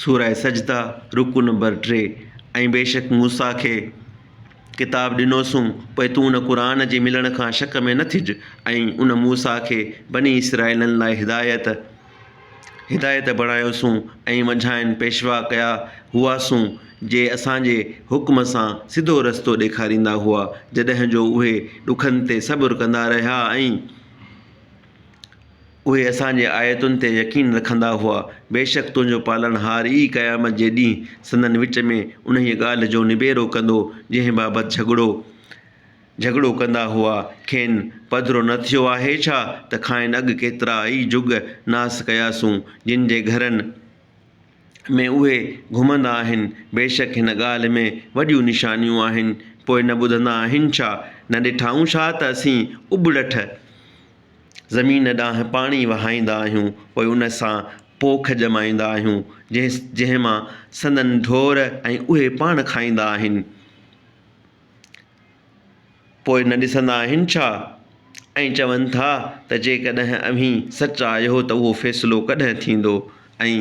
سوره سجده، رڪوع نمبر ٽي، ۽ بيشڪ موسيٰ کي ڪتاب ڏنوسون، پوء تون ان قرآن جي ملڻ کان شڪ ۾ نه ٿج، ۽ ان، موسيٰ، کي بني اسرائيلن لاء هدايت، هدايت، بڻايوسون ۽ منجهانئن پيشوا ڪيا هئاسون، جي اسان جي حڪم سان سڌو رستو ڏيکاريندا هئا، جڏهن جو اهي ڏکن تي صبر ڪندا رهيا ۽. اهي اسان جي آيتن تي يقين رکندا هئا، بيشڪ تنهنجو پالڻهار ئي قيامت جي ڏينهن سندن وچ ۾ انهيء ڳالهه جو نبيرو ڪندو جنهن بابت جهڳڙو جهڳڙو ڪندا هئا، کين پڌرو نه ٿيو آهي ڇا ته کانئن اڳ ڪيترا ئي جڳ ناس ڪياسون، جن جي گهرن ۾ اهي گهمندا آهن، بيشڪ هن ڳالهه ۾ وڏيون نشانيون آهن، پوء نه ٻڌندا آهن ڇا؟ نه ڏٺائون ڇا ته اسين اٻڙٺ، زمين ڏانهن پاڻي وهائيندا آهيون پوء ان سان پوک ڄمائيندا آهيون جنهن جنهن مان سندن ڍور ۽ اهي پاڻ کائيندا آهن پوء نه ڏسندا آهن ڇا؟ ۽ چون ٿا ته جيڪڏهن اوهين سچ آهيو ته اهو فيصلو ڪڏهن ٿيندو؟ ۽،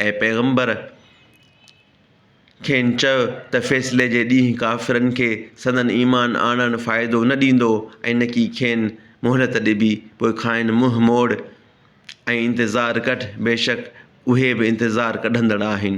اي پيغمبر! کين چيو ته فيصلي جي ڏينهن ڪافرن کي سندن ايمان آڻڻ فائدو نه ڏيندو ۽ نڪي کين مهلت ڏبي، پوء کانئن منهن موڙ ۽ انتظار ڪڍ، بيشڪ اهي به انتظار ڪڍندڙ آهن.